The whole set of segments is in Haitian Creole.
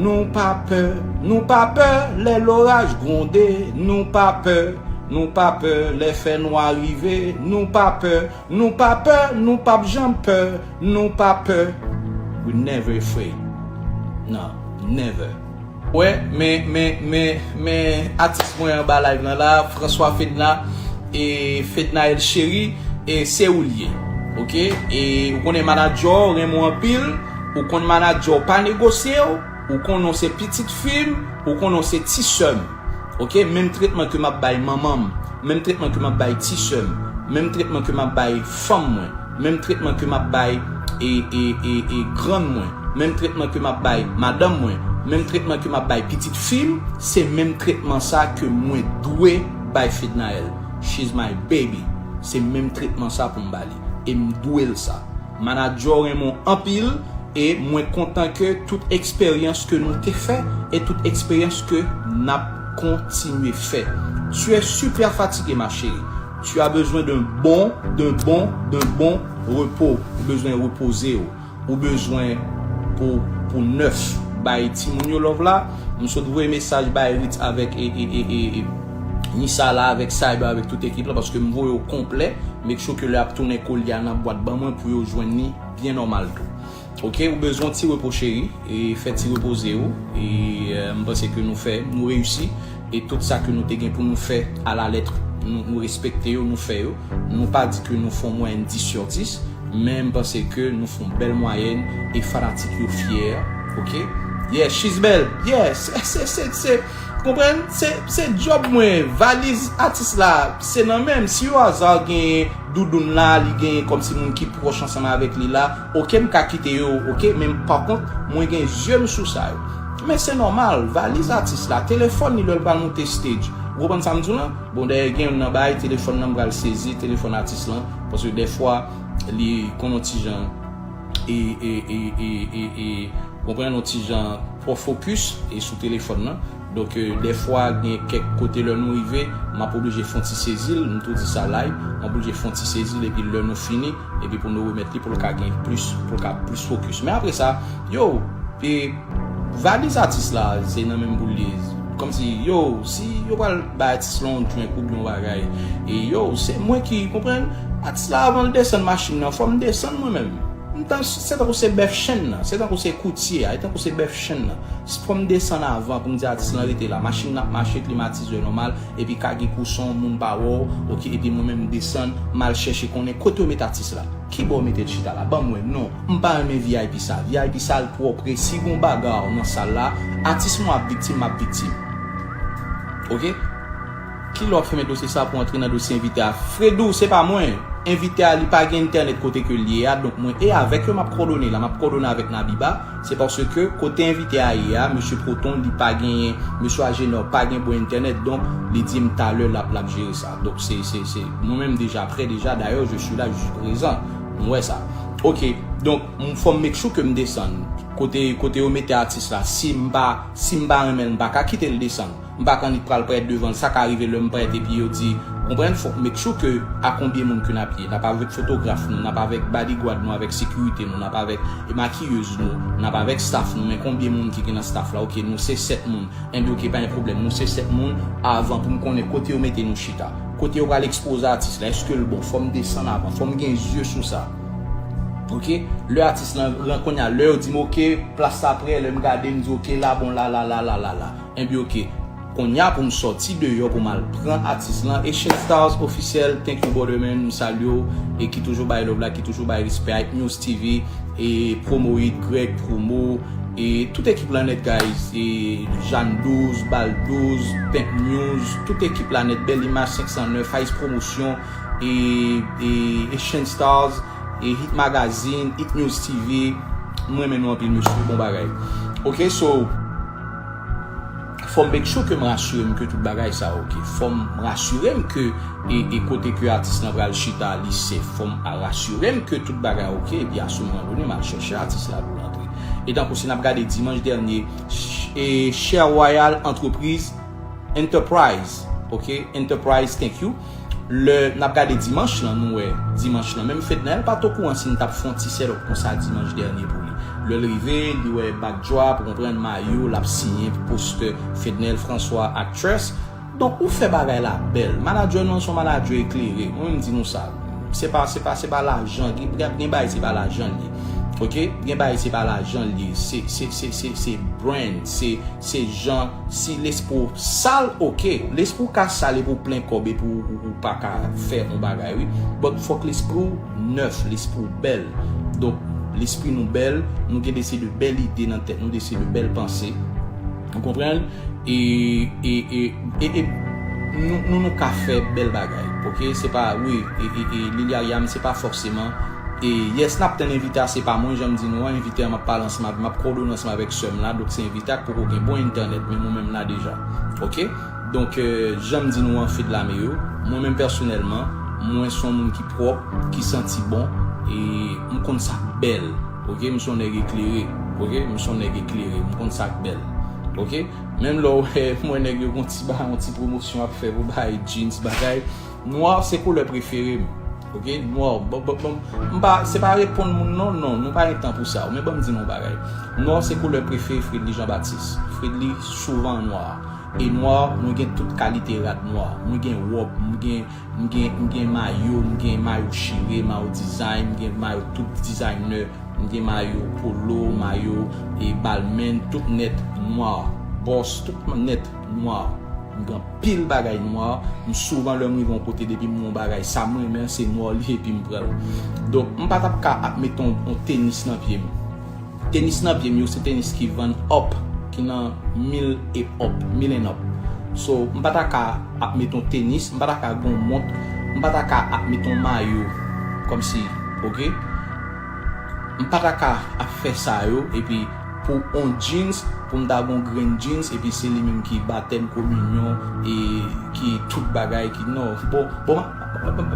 Nou pa pè, nou pa pè lè loraj gwonde, nou pa pè, nou pa pè lè fè nwa rive, nou pa pè, nou pa pè, nou p ap janm pè, nou pa pè, we never afraid, nan, never. Wè men men men men atis mwen anba live lan la François Fedna e Fednaelle Cherie e se ou l ye ok e ou konnen manager w renmen w anpil. Ou konn manadjè w pa negosye w, ou konnen w se pitit fi m, ou konnen w se ti sè m. Ok, menm tretman ke m ap bay manman m, menm tretman ke m ap bay ti sè m, menm tretman ke m ap bay fanm mwen, menm tretman ke m ap bay e grann mwen, menm tretman ke m ap bay madanm mwen, menm tretman ke m ap bay pitit fi m, se menm tretman sa ke mwen dwe bay Fednaelle. She's my baby. Se menm tretman sa pou m ba li. E m dwe l sa. Manager w renmen w anpil e mwen kontan ke tout eksperyans ke nou te fè e tout eksperyans ke nap kontinye fè. Tu es super fatiguée ma chérie. Tu as besoin d'un bon, d'un bon, d'un bon repos. Ou bezwen repoze w. Ou bezwen pou w pou nèf. Bay timoun yo love la. M sot voye mesaj bay Ritz avèk e. Nissa la avèk Cyber avèk tout ekip la paske m voye yo konplè, make sure ke lè yap tounen kolye a nan bwat ban mwen pou yo jwenn li byen nòmal tou ok, ou bezwen yon ti repo cheri e fè ti repoze ou e m panse ke nou fè nou reyisi e tout sa ke nou te gen pou nou fè a la lettre nou respekte yo nou fè yo nou pa di ke nou fon mwayèn 10 sur 10 men m panse ke nou fon bèl mwayèn e fanatik yo fyè ok yeah she's belle yeah se se se se. Konprann se job mwen valiz atis la se nan menm si yo azar genyen doudoun la li genyen kom si moun ki proch ansanm avek li la ok m ka kite yo ok men pa kont mwen gen zye m sou sa yo men se normal valiz atis la telefon li lel pral moute stage ou konprann sam diw lan bon dayè gen yon nan bagay telefon lan m pral sezi telefon atis lan paske dèfwa li konn yon ti jan. e e e e e e konprann yon ti jan twò fokis e sou telefòn nan donk dèfwa gen kèk kote lè nou rive map oblije fon ti sezil m tou di sa live map oblije fon ti sezil epi lè nou fini epi pou nou remèt li pou l ka gen plis pou l ka plis fokis men apre sa yow e. Valiz atis la se nan menm pou l ye Kòmsi yow si yo pral bay atis lan yon drink oubyen yon bagay e yow se mwen ki konprann Atis la avan l desann machin nan fò m desann mwen menm M tan se tankou se bèf chenn nan se tankou se koutye a e tankou se bèf chenn nan Fò m desann avan pou m di atis lan rete la Machin nan ap mache klimatizè nòmal epi ka gen kouson moun pa wè w ok epi mwen menm m desann m al chèche konnen kote yo met atis la. Kibò ou mete chita la banm wè non m pa renmen vip sal vip sal pwòpre si gon bagar nan sal la atis mwen ap viktim map viktim ok kilè wap fèmen dosye sa pou antre nan dosye envite a fredou se pa mwen envite a li pa gen entènèt kote ke liye a donk mwen e avèk yo map kòdone la map kòdone avèk nabiba se paske kote envite a ye a mesye proton li pa genyen mesye ajenò pa gen bon entènèt donk li dim talè lap lap jere sa. Donk se se se mwen menm deja prè deja dayè je suis la je suis prezan m wè sa ok donk m fòm make sure ke m desann kote kote yo mete atis la si m pa si m pa renmen l m pa ka kite l desann m pa k annik pral parèt devan l sa ka rive lè m parèt epi yo di konprann fòk m make sure ke a konbyen moun ke n ap ye n ap avèk fotograf nou n ap avèk badigwad nou avèk sekirite nou n ap avèk makiyez nou n ap avèk staff nou men konbyen moun ki gen nan staff la ok nou se 7 moun Enben ok pa gen pwoblèm nou se 7 moun avan poum konnen kote yo mete nou chita kote yo pral ekspoze atis la eskel bon fòm desann avan fòm gen zye sou sa ok lè atis lan ran konnya lè yo dim ok plas sa prè lèm gade mdi ok la bon la la la la la la enben ok konnya poum sòti deyò poum al pran atis lan Haitian stars officiel thank you brother man m salye w e ki toujou bay love la ki toujou bay respè a Yknews TV e promoid Greg promo. E tout ekip la nèt guys e Jane 12, Bal 12, Pink News, tout ekip la nèt Belle Image 509, Faiz Promotion e e Shane Stars e Hit Magazine, Hit News TV, m renmen nou anpil mesye bon bagay. Ok so. Fòm make sure kem rasirem ke tout bagay sa ok fòm rasirem ke e kote ke atis lan pral chita li sef fòm rasirem ke tout bagay ok epi asou moman done mal chèche atis la poul antre e tankou si nap gade dimanch dènye e chè royal antrepriz enterprise ok enterprise thank you. Lè nap gade dimanch lan nou wè dimanch lan menm Fedna el pat okouran si nou tap fè yon ti sèt up konsa dimanch dènye pou li. Lèl rive li wè backdrop ou konprann mayo lap siyen pou postè Fednel François actress donk ou fè bagay la bèl manager nou an se yon manager eklere mwen menm di nou sa se pa se pa se pa lajan gen bagay se pa lajan l ye ok gen bagay se pa lajan l ye se se se se se brand se se jan Si lespri w sal ok, lespri w ka sal epi w plen kòb epi w pa ka fè yon bagay wi, but fòk lespri w nèf, lespri w bèl, donk lespri nou bèl, nou gen de se de bèl ide nan tèt nou, de se de bèl panse, ou konprann, e e nou nou ka fè bèl bagay ok, se pa wi e e e Liliariam se pa fòseman. Yes nap tann envite a se pa mwen janm di nou an envite a map pale ansanm avèl map kòdone ansanm avèk sèm la donk se envite a k poko gen bon entènèt menm ou menm la deja ok donk janm di nou an fedlame yo mwen menm pèsonèlman mwen son moun ki pwòp ki santi bon e m konn sak bèl ok m son nèg eklere ok m son nèg eklere m konn sak bèl ok menm lèw wè mwen nèg yo gon ti ba yon ti pwomosyon ap fè pou bay jeans bagay Noir se koulè prefere m ok noir m pa se pa reponn moun non non nou pa gen tan pou sa men banm di nou yon bagay noir se koulè prefere Fredly Jean Baptiste Fredly souvan an noir e noir mwen gen tout kalite rad noir mwen gen rob m gen m gen m gen mayo m gen mayo chire mayo design m gen mayo tout designer m gen mayo polo mayo e balmain tout nèt noir boss tout nèt. Noir. M gen anpil bagay noir. M souvan lè m rive yon kote depi m wè yon bagay sa m renmen an se noir li ye epi m pran l. Donk m pa t ap ka ap met yon tenis nan pye m. Tenis nan pye m yo se tenis ki vann up ki nan mil e up, mil and up. So m pa ta ka ap met yon tenis, m pa ta ka gen yon mont, m pa ta ka ap met yon mayo kòmsi ok. M pa ta ka ap fè sa yo epi. Pou on jeans pou m ta gon grenn jeans epi se li menm ki batèm kominyon e ki tout bagay ki no bon bon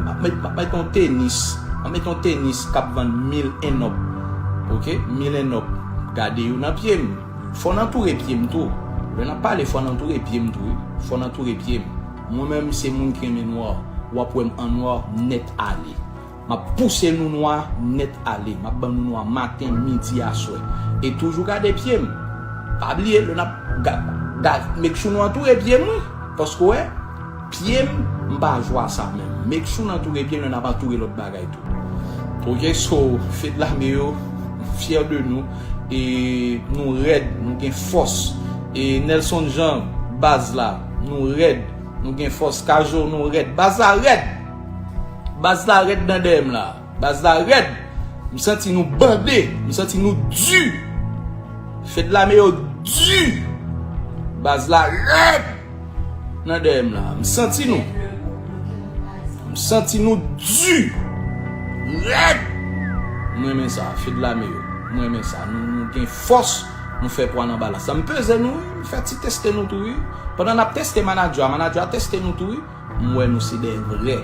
map met map met on tenis map met on tenis kap vann mil enop ok mil enop gade yo nan pye m fò n antoure pye m tou lè nap pale fò n antoure pye m tou wi fò n antoure pye m mwen menm se moun ki renmen nwa wap wè m an nwa nèt ale. Map pouse nou nwa nèt ale. Map ban nou nwa maten, midi, aswè. E toujou gade pye m. Pa bliye lè nap gad make sure nou antoure pye m wi. Paske w wè pye m m pa jwe a sa menm. Make sure nou antoure pye m lè nap antoure lòt bagay tou. Ok so fedlame yo m fyè de nou e nou rèd nou gen fòs e Nelson Jean baz la nou rèd nou gen fòs K-zo nou rèd baz la rèd! Baz la red nan dèyèm la. Baz la red. M santi nou bande. M santi nou du. Fed lame yo du. Baz la red. Nan dèyèm la. M santi nou. M santi nou du. Red. M renmen sa. Fed lame yo. M renmen sa. Nou gen fos. Nou fe pwa nan balas la. M peze nou. M fe ti teste nou tou. Pandan nap teste manadjwa. Manadjwa teste nou tou. M wè nou se de vrè.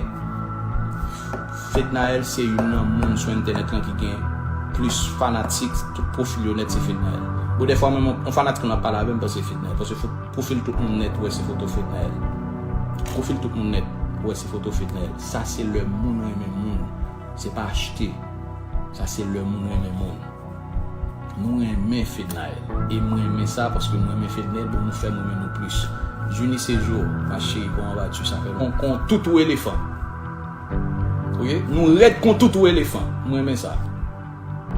Fednaelle se youn nan moun sou entènèt lan ki gen plis fanatik tout pwofil yo nèt se Fednaelle. Bon dèfwa menm yon fanatik lan ap pale avèm panse se Fednaelle paske pwofil tout moun nèt wè se foto Fednaelle. Pwofil tout moun nèt wè se foto Fednaelle. Sa se lè moun renmen moun se pa achte. Sa se lè moun renmen moun. Nou renmen fednaelle e m renmen sa paske m renmen fednaelle bon nou fèm renmen nou plus junie se jou ma chérie bon anba tu sa fè bon kon toutou elefan ok nou rèd kon toutou elefan m renmen sa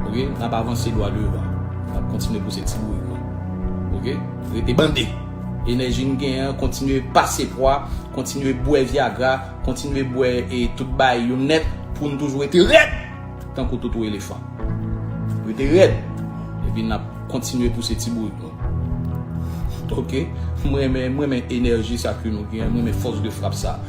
ok nap avanse dwa devan nap kontinye pouse ti bourik nou ok rete bande enèji n genyen an kontinye pase pwa kontinye bwè viagra kontinye bwè e tout baay yo nèt pou n toujou rete rèd. Tankou toutou elefan. Rete rèd. Epi nap kontinye pouse ti bourik nou. Ok. M renmen, m renmen enèji sa ke nou gen. M renmen fòs de frap sa.